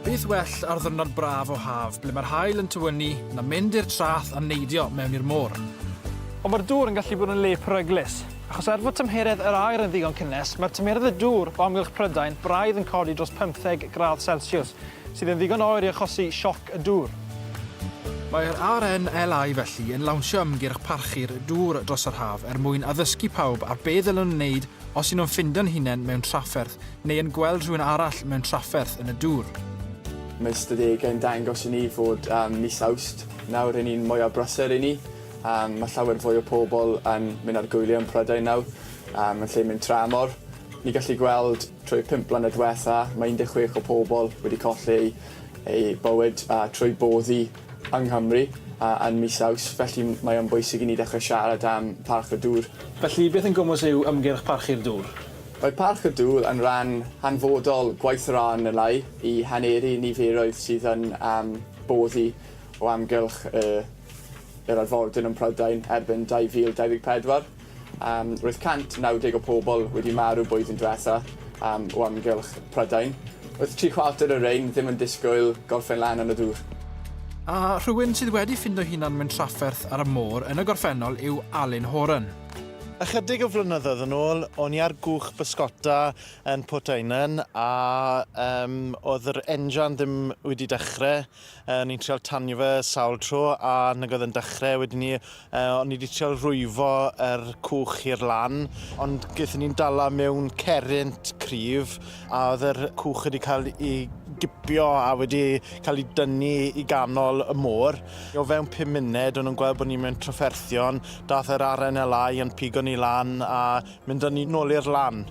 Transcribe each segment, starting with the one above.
Beth well ar ddwrnod braf o haf ble mae'r haul yn tywynnu na mynd i'r trath a neidio mewn i'r môr. Ond mae'r dŵr yn gallu bod yn le peryglus, achos er fod tymheredd yr aer yn ddigon cynnes, mae'r tymeredd y dŵr o amgylch Prydain braidd yn codi dros 15 gradd Celsiws, sydd yn ddigon oer i achosi sioc y dŵr. Mae'r RNLI felly yn lawnsio ymgyrch parchu'r dŵr dros yr haf er mwyn addysgu pawb ar be ddylwn wneud os y'n nhw'n ffindo'n hunain mewn trafferth neu yn gweld rhywun arall mewn trafferth yn y dŵr. Mae ystadegau yn dangos i ni fod um, mis Awst nawr yn un mwyaf brysur i ni. Um, mae llawer fwy o pobl yn mynd ar gwyliau yn Prydain nawr, um, yn lle mynd tramor. Ni gallu gweld trwy 5 blynedd diwetha, mae 16 o pobl wedi colli eu, eu bywyd uh, trwy boddi yng Nghymru yn mis Awst, felly mae o'n bwysig i ni ddechrau siarad am Parch y Dŵr. Felly, beth yn gwmws yw ymgyrch Parchu'r Dŵr? Mae Parch y Dŵr yn rhan hanfodol gwaith yr RNLI i haneru niferoedd sydd yn boddi o amgylch yr arfordir yn Prydain erbyn 2024. Roedd 190 o pobl wedi marw blwyddyn diwetha o amgylch Prydain. Oedd tri chwarter o rein ddim yn disgwyl gorffen lan yn y dŵr. A rhywun sydd wedi ffindo'i hunan mewn trafferth ar y môr yn y gorffennol yw Alun Horan. Ychydig o flynyddoedd yn ôl, o'n i ar gwch bysgota yn Portaenen a oedd yr enjan ddim wedi dechrau. O'n i'n trial tanio fe sawl tro a nag oedd yn dechrau. Wedyn ni, uh, o'n i wedi trial rwyfo yr cwch i'r lan, ond gaethon ni'n dala mewn cerrent cryf a oedd yr cwch wedi cael ei gipio a wedi cael ei dynnu i ganol y môr. O fewn pum munud, o'n nhw'n gweld bod ni mewn trafferthion, dath yr RNLI yn pigo ni lan a Mynd â ni nôl i'r lan.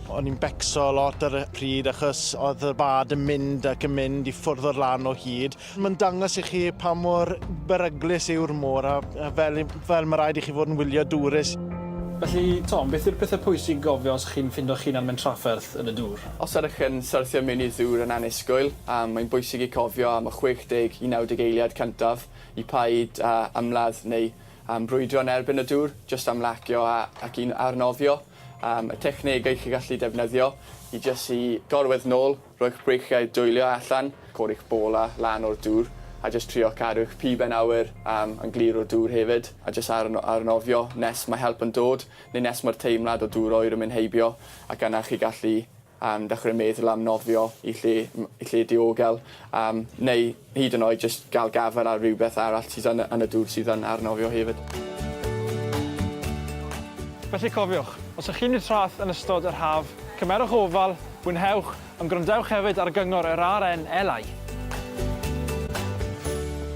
O'n i'n becso lot ar y pryd achos oedd y bad yn mynd ac yn mynd i ffwrdd o'r lan o hyd. Mae'n dangos i chi pa mor beryglus yw'r môr a fel, fel mae rhaid i chi fod yn wyliadwrus. Felly, Tom, beth yw'r pethau pwysig i gofio os chi'n ffindo'ch hunan mewn trafferth yn y dŵr? Os ydych yn syrthio mewn i'r ddŵr yn annisgwyl, mae'n bwysig i cofio am y 60 i 90 eiliad cyntaf i paid â ymladd neu Am brwydro yn erbyn y dŵr, jyst am lacio a ac un ar nofio. Am y technegau chi'n gallu defnyddio i jyst i gorwedd nôl, rhoi'ch breichiau dwylio allan, codi'ch bola lan o'r dŵr a jyst trio cadw'ch piben awyr am yn glir o'r dŵr hefyd a jyst ar no- ar nofio nes mae help yn dod neu nes mae'r teimlad o dŵr oer yn mynd heibio ac yna chi gallu am ddechrau meddwl am nofio i lle i lle diogel am neu hyd yn oed jyst gael gafael ar rywbeth arall sydd yn y yn y dŵr sydd yn ar nofio hefyd. Felly cofiwch, os ych chi'n mynd traeth yn ystod yr haf, cymerwch ofal, mwynhewch, ond gwrandewch hefyd ar gyngor yr RNLI!